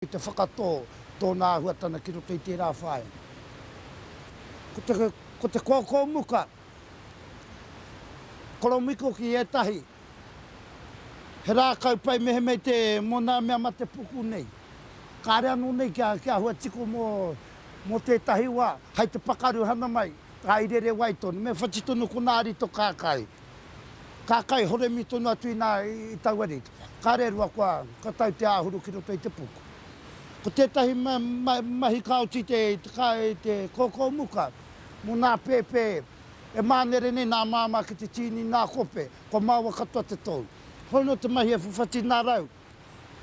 I te whakatō tōna āhuatana ki roto i tērā whāinga. Ko te, ko te kōkō muka, koromiko ki ētahi, he rākau pai mehemea te, mō nā mea mate puku nei. Kāre anō nei kia, kia huatiko mō, mō tētahi wā, hai te pakaru hana mai, hai rere wai tonu, me whati tonu konā rito kākā i. Ka kai horemi tonu atu inā i taua rite. Kāre rua kua tau te āhuru ki roto i te puku. Ko tētahi mahi ka oti te kōkō muka mō nā pēpē e mānere nei nā māmā ki te tīni nā kope, kua maoa katoa te tou. Hoi nō te mahi e whawhati nā rau.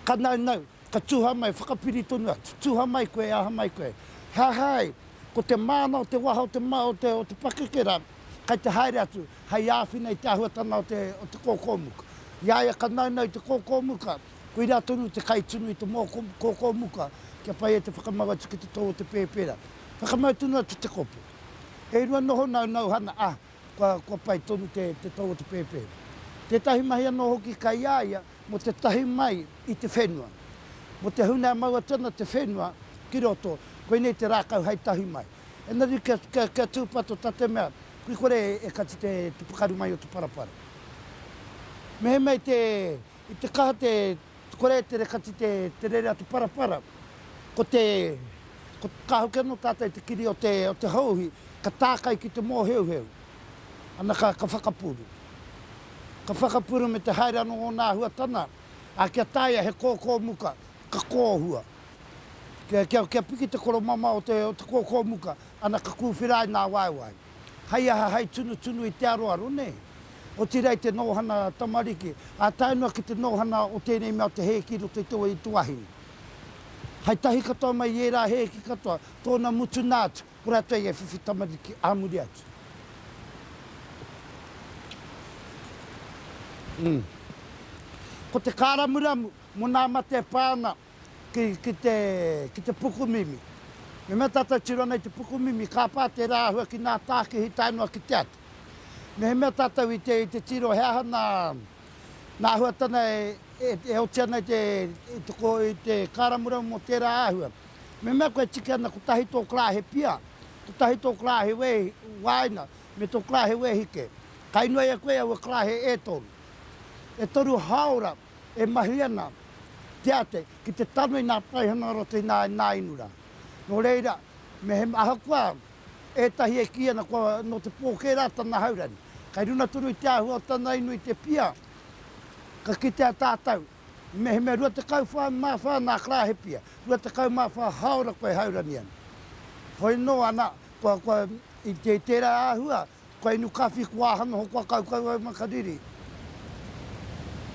Ka naunau, ka tuha mai, whakapiri tonu atu, tuha mai koe, e aha mai koe. He aha ai, ko te māna o te waha o te o te pakeke rā, kai te haere atu, hai āwhina i te āhuatanga o te o te kōkōmuka. I a ia ka naunau i te kōkōmuka, koirā tonu te kai tunu i te mōko kōkōmuka kia pai e te whakamau atu ki te tō o te pēpēra. Whakamau tonu atu te kopu. E rua noho naunauhana, a. kua, kua pai tonu te, te tau o te pēpē. Tētahi mahi anō hoki kai a ia mō te tahi mai i te whenua. Mō te huna e mau atu ana te whenua ki roto, koinei te rākau hai tahi mai. Engari kia, kia, kia tūpato tā te mea, kui kore e, e kati te, te pakaru mai o te parapara. Mehemea i te, i te kaha te, Kore te rekati te te rere atu parapara ko te ko ka hoki ano tatou te kiri o te o te hauhi ka takai ki te moheuheu ana ka ka whakapuru ka whakapuru me te haere ano ona ahuatana a kia taia he koko muka ka kohua kia kia kia piki te koromama o te o te koko muka ana ka kuwhira ai na waewae. Hei aha, hei tunutunu i te aroaro, nē? Otirā i te nōhana tamariki, ā, tae noa ki te nōhana o tēnei mea o te hēki i roto i te wai o te wahine. Hei tahi katoa mai i ērā hēki katoa, tōna mutunā atu, kua rātou i a whiwhi tamariki ā muri atu. Ko te kāramuramu mō nā mate e pā ana ki te pukumimi. Me mea tātou tiro ana i te pukumimi, ka pā tērā āhua ki ngā tākihi tae noa ki te atu. Mehemea tātou i te tiro he aha ngā āhuatanga e oti ana i te kāramuramu mō tērā āhua. Me mea koe e tiki ana kotahi tō kra he pia, kotahi tō kra he wāina, me tō kra he wēhike, ka inoi e koe aua kra he e toru. E toru hāora. E mahi ana te ate ki te tano i ngā paihana o roto i ngā ināinura. Nō reira, mehemea ahakoa ētahi e kī ana kua nō te pōkē rā tana haurangi, kei runga tonu i te āhua o tana inu i te pia, ka kitea tātou, mehemea 24 ngā karāhe pia, 24 hāora koe haurangi ana. Hoi nō ana, kua, kua, i tērā āhua, Kua inu kawhi, kua aha noho, kua kaukau au ma ka riri.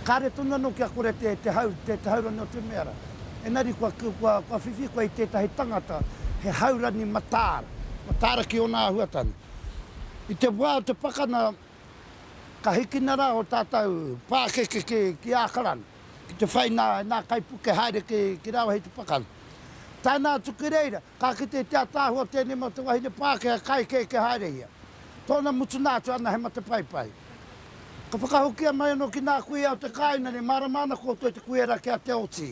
Kare tonu ano kia kore te te hau, te te hau rani o te mea ra. Enari kua kua kua whiwhi koe i tetahi tangata he hau rani mataara, mataara ki ona ahuatana. I te wa o te pakana ka hikina ra o tatou pakeke ki ki Akarana. Ki te whai nā, nā kaipuke haere ki, ki rāua hei te pakari. Tāna atu ki reira, ka kite te ataahua tēnei mō te wahine Pākehā, ka ekeke haere ia. Tōna mutunā atu ana he matapaipai. Ka whakahokia mai anō ki nā kuia o te kāina nei, mārama ana koutou te kuia rā kia te oti.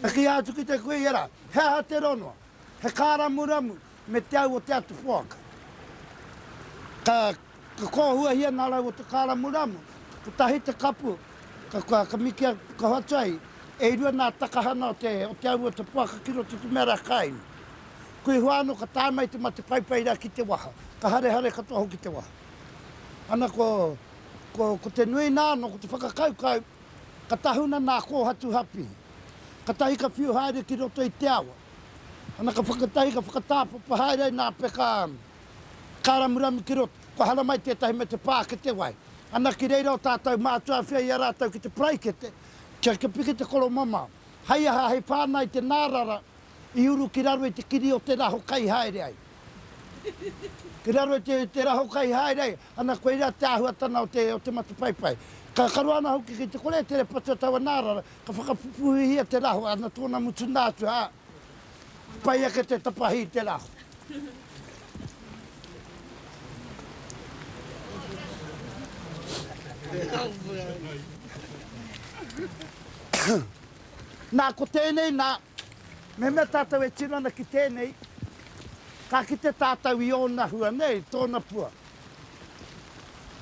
Ka kīia atu ki te kuia rā, he aha te rongo? He kāramuramu me te au o te atu poaka. Ka kōhuahia ngā rau o te kāramuramu, kotahi te kapu, ka mikea ka hoatu ai, e rua ngā takahana o te au o te poaka ki roto i te mea rā ka inu. Kui hoa anō ka tae mai te mate paipai rā ki te waha, ka harehare katoa hoki te waha. Ana ko te nuinga anō, ko te whakakaukau, Ka tahuna nā kōhatu hapī. Katahi ka whiu haere ki roto i te awa. Ana ka whakatahi ka whakatāpapa haere ai nā peka kāramuramu ki roto. Kua hara mai tētahi me te pā ki te wai. Ana ki reira o tātou mātua awhia i a rātou ki te paraikete kia kia piki te koromamao. Hei aha hei whānau te nārara i uru ki raro i te kiri o te raho kai haere ai. Ki raro i te raho kai haere ana koirā te āhuatanga o te o te matapaipai. Ka karo ana hoki ki te kore e tere patu a taua nāra, ka whakapupuhihia te raho ana tōna mutunā atu ā, pai ake te tapahi i te raho. Nā, ko tēnei nā, Mehemea tātou e tino ana ki tēnei, ka kite tātou i ōna hua nei, tōna pua.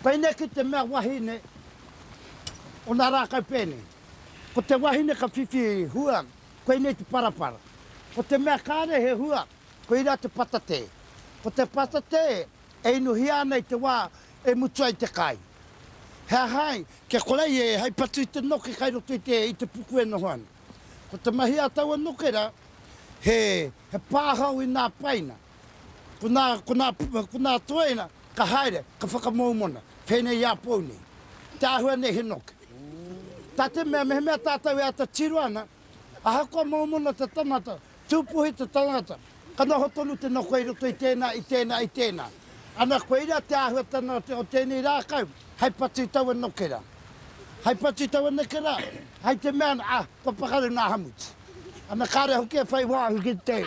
Pēnei ki te mea wahine o nā rākau pēnei. Ko te wahine ka whiwhi hua, koinei te parapara. Ko te mea kāre he hua, koirā te patatē. Ko te patatē e inuhia ana i te wā e mutu ai te kai. He aha ai, kia kore ai e hai patu i te noke kai roto i te puku e noho ana. Ko te mahi a taua nokera, he pāhau i nā paina. Ko nā, ko nā, ko nā toena ka haere, ka whakamoumona, pēnei i a pou nei. Te āhua nei he noke. Tā te mea mehemea tātou e ata tiro ana, ahakoa moumona te tangata, Tūpuhi te tangata, ka noho tonu te noho i roto i tēnā, i tēnā, i tēnā. Ana koirā te āhuatanga o te o tēnei rākau, hei patu i taua nokera, hei patu i taua nekera, hei te mea ana, ah, kua pakaru nā Hamuti. Ana kāre hoki e whai wāhi ki te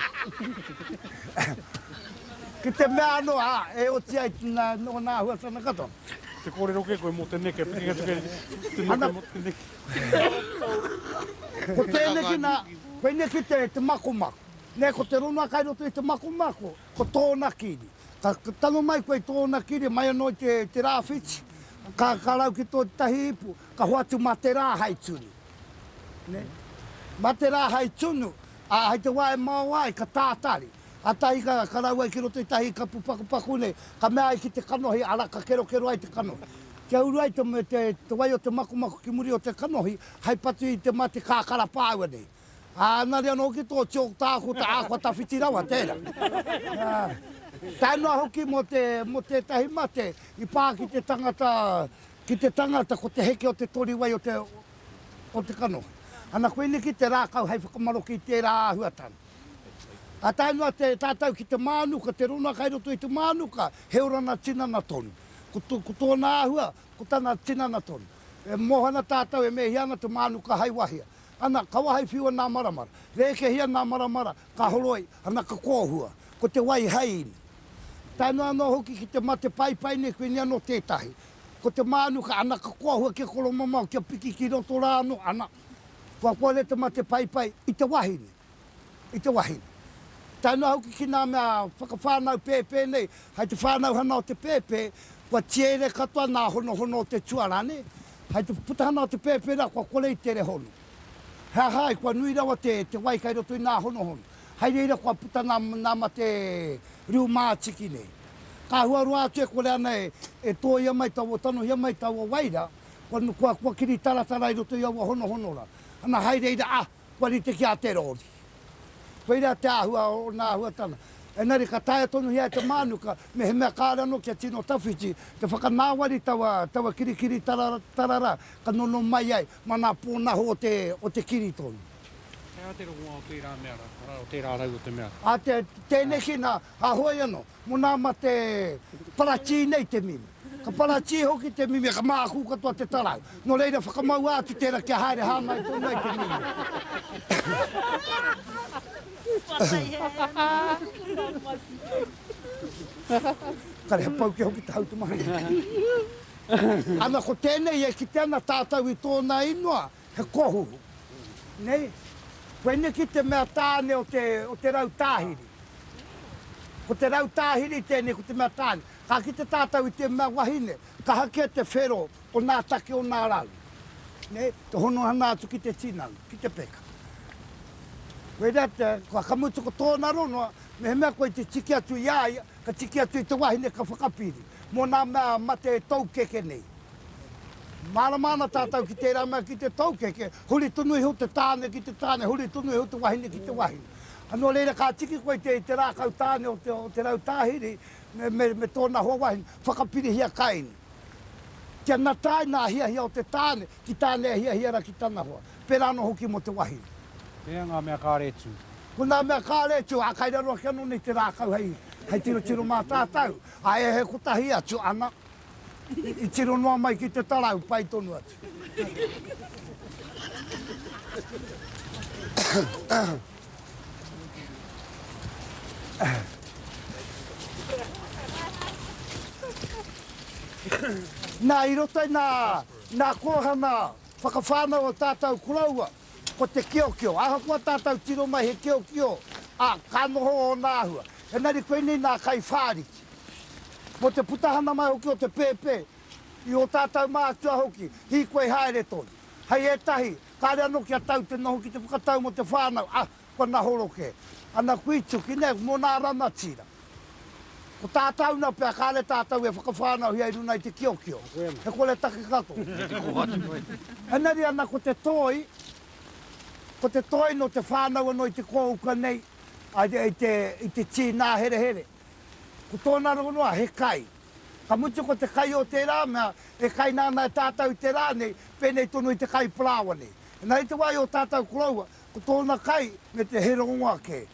ki te mea anō, ah, e oti ai nā, nōna āhuatanga katoa. Te kōrero kē koe mō te neke, te keke atu kē te neke mō te neke. Ko tēneki nā, koineki te, te makomako. Nē, ko te rongoa kai roto i te makomako, ko tōna kiri. Ka tango mai koe i tōna kiri, mai anō i te, te rāwhiti, ka, ka rau ki tō te tahi ipu, ka hoatu mā te rā hai tunu. Nē? Mā te rā hai tunu, ā, hai te wā e mao ai, ka tātari. Kātahi ka, ka rau ai ki roto i tahi kapu pakupaku nei, ka mea ai ki te kanohi, ara, ka kerokero ai te kanohi. Kia uru ai te me te wai o te makumaku ki muri o te kanohi hai patu i te ma te kakara paua nei. A anari ano hoki to chalk taha ko te akua tawhiti rawa tera. Tae noa hoki mo te mo tetahi mate i pa ki te tangata ki te tangata ko te heke o te tori wai o te o te kanohi. Ana koini ki te rakau hai whakamaroke i tera ahuatanga. Ka tae noa te tātou ki te mānuka, te rona kai roto i te mānuka, he oranga tinana tonu. Ko tōna āhua, ko tana tinana tonu. E moho ana tātou e mēhia ana te mānuka hai wahia. Ana, ka wahai whiua nā maramara. Rēkehia nā maramara, ka horoi, ana ka kōhua. Ko te wai hai inu. Tae noa anō hoki ki te mate paipai nei koinei anō tētahi. Ko te mānuka, ana ka kōhua kia koromamao, kia piki ki roto rā anō, ana. Kua kore te mate paipai i te wahine, i te wahine. Tae noa hoki ki ngā mea whakawhānau pēpē nei, hai te whānauhana o te pēpē, kua tiere katoa ngā honohono o te tuarā, nē? Hai te putahana o te pēpē rā, kua kore i tere hono. He aha ai, kua nui rawa te, te wai kai roto i ngā honohono. Hai reira kua puta ngā, ngā mate riu mātiki nei. Ka hua roa atu e kore ana e, e tōia mai taua, tanohia mai taua wai rā. Kua kiri taratara i roto i aua honohonora, ana hai reira, ah, kua rite ki a te rori. Koirā te āhua o ōna āhuatanga. Engari ka taea tonuhia e te mānuka, mehemea kāore anō kia tino tawhiti, te whakanāwari taua kirikiri tarara ka nono mai ai mā ngā pōnaho o te kiri tonu. He aha te rongoā o tērā mea rā, arā, o tērā rau o te mea rā? Tēneki nā, hāhoi anō. Mo na ma te paratī nei te mimi. Ka paratī hoki te mimi ka mākū katoa te tarau. No reira whakamaua atu tera kia haere hāngai tonu ai te mimi. Kare he pau kia hoki te hau te mahi. Ana ko tenei e kite ana tātau i tōna ingoa. He kohu. Nei? Koe neki te mea tāne o te, o te rau tāhiri. Ko te rau tāhiri tēnei ko te mea tāne. Ka kite tātou i te mea wahine, kaha kē te whero o nā take o nā rau. Nei? Te honohana atu ki te tinana, ki te peka. Koe rea te, kua ka mutu ko tōna rongoa, mehemea koe te tiki atu i a ia, ka tiki atu i te wahine ka whakapiri. Mō nā mea mate toukeke nei. Mārama ana tātou ki tērā mea ki te toukeke, huri tonu iho te tāne ki te tāne, huri tonu iho te wahine ki te wahine. Nō reira, ka tiki koe i te rākau tāne o te rau tāhiri me tōna hoa wahine, whakapirihia kaini. Kia natai nā hiahia o te tāne ki tāne e hiahia ana ki tana hoa, pērā anō hoki mō te wahine. Pēhea ngā mea kāre tū? Ko nā mea kāre tū, ā, kai raro ake anō nei te rākau hei tirotiro mā tātou. Ā, e he kotahi atu ana, i tiro noa mai ki te tarau, pai tonu atu. Nā, i roto i nā, nā kōhanga whakawhānau o tātou koroua, Ko te kiokio, ahakoa tātou tiro mai he kiokio, ā, ka noho ōna āhua. Engari koinei nā Kaiwhāriki. Mō te putahana mai hoki o te pēpē, i ō tātou mātua hoki, hīkoi haere tonu. Hei ētahi, kāre anō kia tau te noho ki te whakatau mō te whānau, ā, Kua nahoro kē. Ana kuituki nei mō nā rangatira. Ko tā tāuna pea kāre tātou e whakawhānauhia i runga i te kiokio. He kore take katoa. Kei te kōhatu mai. Engari ana ko te toi, ko te toi nō te whānau anō i te kōuka nei, i te tīnāherehere. Ko tōna rongoā he kai. Ka mutu ko te kai o tērā mea e kaina ana e tātou i te rā nei, pēnei tonu i te kai parāoa nei. Engari i te wā i ō tātou koroua, Ko tōna kai me te he rongo ake.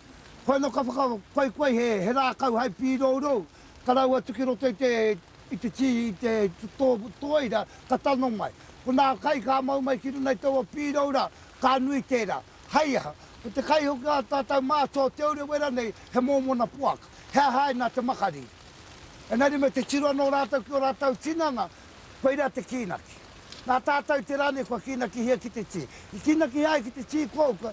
Koia anō ka whakakoikoi he rākau hai pīrourou, ka rau atu ki roto i te tī i te tōira ka tano mai. Ko nā kai ka mau mai ki runga i taua pīroura, ka nui tērā. Hai aha? Ko te kai hoki a tātau mātua o Te Urewera nei he mōmona poaka. He aha ai nā te makariri? Engari me te tiro anō rātau ki ō rātau tinana Koirā te kīnaki. Nā tātou te rā nei kua kīnakihia ki te tī. I kīnakihia ai ki te tī kouka,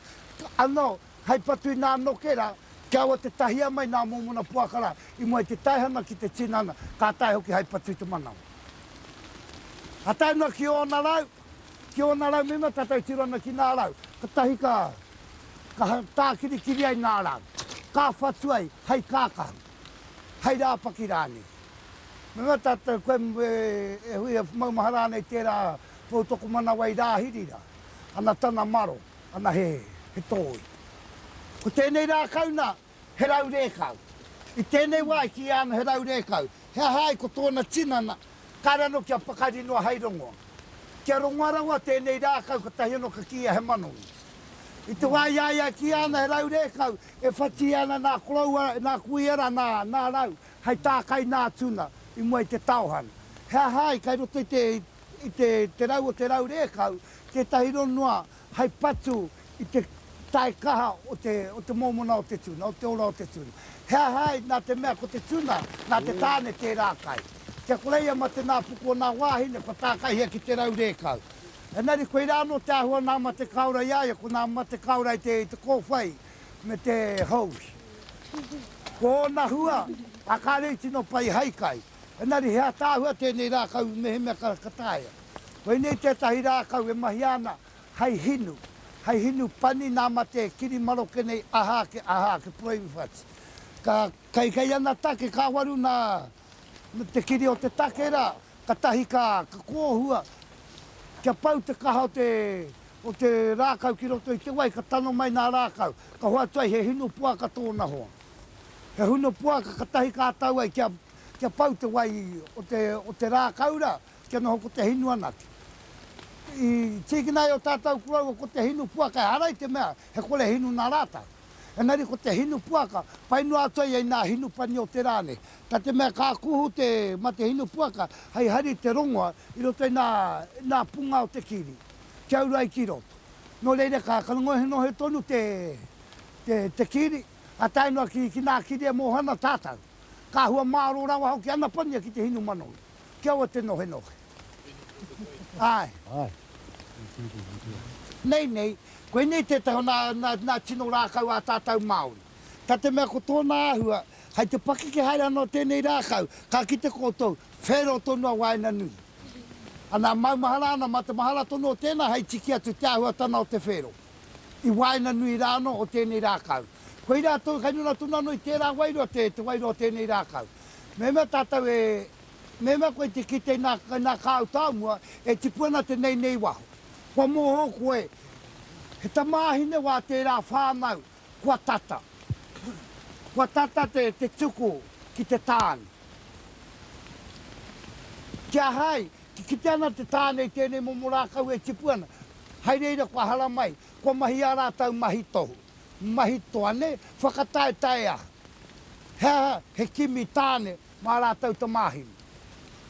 anō, hei patu i nā noke rā, kia aua te tahia mai nā mōmona poaka rā, i mua i te taihana ki te tinana, ka tae hoki hei patu i te manawa. Ka tae noa ki ōna rau, ki ōna rau mema tātou tiro ana ki nā rau, katahi ka, ka tākirikiri ai nā rau, ka whatu ai hei kākahu. hai rāpaki rānei. Me mea tātou koe e hui e maumahara ana i tērā poutokomanawa i Rāhiri rā, ana tana maro, ana he tōi. Ko tēnei rākau nā, he rau rēkau. I tēnei wā i kīia ana he rau rēkau, he aha ai ko tōna tinana, kāre anō kia pakari noa hai rongoa. Kia rongoa rawa tēnei rākau kotahi anō ka kīia he manongi. I te wā i a ia e kīia ana he rau rēkau, E whati ana nā koroua, nā kuia rā, nā, nā rau, hei tākai nā tuna, i mua i te taohana. He aha ai, kai roto i te, i te, te rau o te rau rēkau, tētahi ronua hei patu i te tae kaha o te, o te mōmona o te tuna, o te ora o te tuna. He aha ai, nā te mea ko te tuna, nā te tāne tērā kai. Kia ko reia ma te nā puku o nā wāhine kua tākaihia ki te rau rēkau. Engari koirā anō te āhua nā mate kāora i a ia, ko nā mate kāora i te kōwhai me te hose. Ko ōna hua, a kāre i tino pai hai kai. Engari he ataahua tēnei rākau mehemea ka, ka taea. Koinei tētahi rākau e mahia ana hai hinu, hai hinu pani nā mate kiri maroke nei aha ake, aha ake, proinfats. Ka, kei, kei ana take ka waru nā te kiri o te take rā. Katahi ka kōhua kia pau te kaha o te o te rākau ki roto i te wai ka tano mai nā rākau ka hoatu ai he hinu poaka tōna hoa. He hinu poaka katahi ka tau ai kia kia pau te wai o te o te rākau ra kia noho ko te hinu anake. I tīkina ai o tātau koroua ko te hinu poaka ehara i te mea he kore hinu nā rātau. Engari ko te hinu puaka, pai noa atu ai i nā hinu pani o te rā nei. Na te mea ka kuhu te ma te hinu puaka hei hari i te rongoa i roto i nā nā punga o te kiri kia uru ai ki roto. No reira ka ka ngohinohi tonu te te te kiri, ka tae noa ki ki nā kiri e moho ana tātau. Ka hua mārō rawa hoki ana pania ki te hinu manawi, kia ua te nohenohe. Āe. Nei, nei, koinei tētahi o nā, nā, nā tino rākau ā tātou Māori. Tā te mea ko tōna āhua, hai te pakeke haere ana o tēnei rākau, ka kite koutou, whero tonu a waenganui. Anā, maumahara ana, mā te mahara tonu o tēnā hai tiki atu te āhuatana o te whero, i waenganui rā anō o tēnei rākau. Koirā, tō, kai runga tonu anō i tērā wairua te, te wairua o tēnei rākau. Mehemea tātou e. Mema koe te kite na na kāu tāmua e tipu ana te nei nei waho. Kua moho koe he tamāhine wā tērā whānau kua tata. Kua tata te te tuku ki te tāne. Ki a hai, ki kite ana te tāne i tēnei momo rākau e tipu ana, hai reira kua haramai, kua mahi ā rātau mahi tohu, mahi toane, whakataetae aha. He aha he kimi tāne Mā rātou te māheni.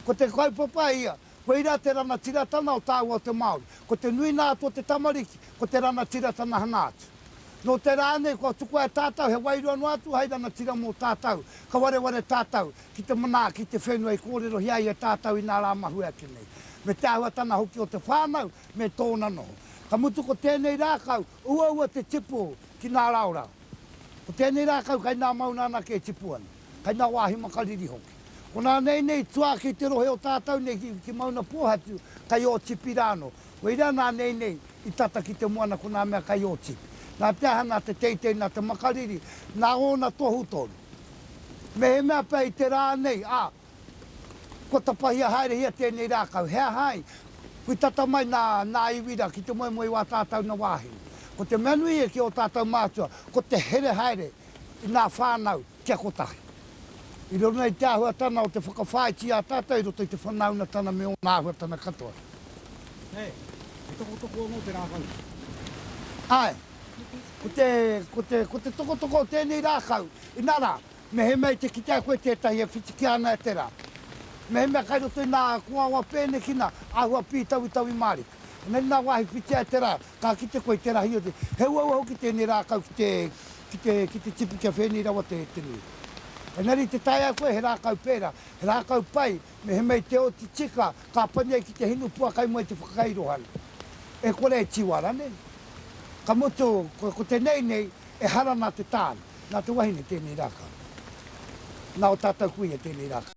Ko te kaupapa ia, koirā te rangatiratanga o tāua o te Māori. Ko te nuinga atu o te tamariki, ko te rangatiratanga hanga atu. Nō te rā nei kua tukua e tātou he wairua noa atu hai rangatira mō tātou, ka wareware tātou ki te manaaki i te whenua i kōrerohia ai e tātou i nā rā mahue ake nei, me te āhuatanga hoki o te whānau me tōna noho. Ka mutu ko tēnei rākau, uaua te tipu ki nā raorao. Ko tēnei rākau kai nā maunga anake e tipu ana. kai ngā wāhi makariri hoki. Ko nā nei nei tuā ki te rohe o tātau nei ki, ki Maunapōhatu, kai Ōtipi rānō. Koirā nā nei nei i tata ki te moana ko nā mea kai Ōtipi. Nā te aha, nā te teitei, nā te makariri, nā ōna tohu tonu. Mehemea pea i te rā nei, ā, kua tapahia haerehia tēnei rākau, he aha ai, kui tata mai nā, nā iwi rā ki te moemoe i wā tātau na wāhine. Ko te mea nui e ki ō tātau mātua, ko te here haere. i ngā whānau kia kotahi. I riro i te āhuatana o te whakawhāiti i a tātou i roto i te whanaungatanga me ōna āhuatanga katoa. He tokotoko anō te rākau? Āe. Ko te, ko te, ko te tokotoko o tēnei rākau, inā rā, mehemea i te kitea koe tētahi e whitikia ana e te rā, mehemea kai roto i nā kōawa pēnekina, āhua pītawitawi Māori. Engari nā wāhi whiti ai te rā, ka kite koe i te rahi o te. He uaua hoki tēnei rākau ki te, ki te, ki te tipu kia whēnei rawa te, te nui. Engari i te taea ai koe he rākau pērā, he rākau pai, mehemei te oti tika, ka pani ai ki te hinu pua kai mua i te whakakairohanga. E kore e tiwa ranei? Ka mutu, ko, ko tenei nei, ehara nā te tāne, nā te wahine tēnei rākau. Nā o tātou kuia tēnei rākau.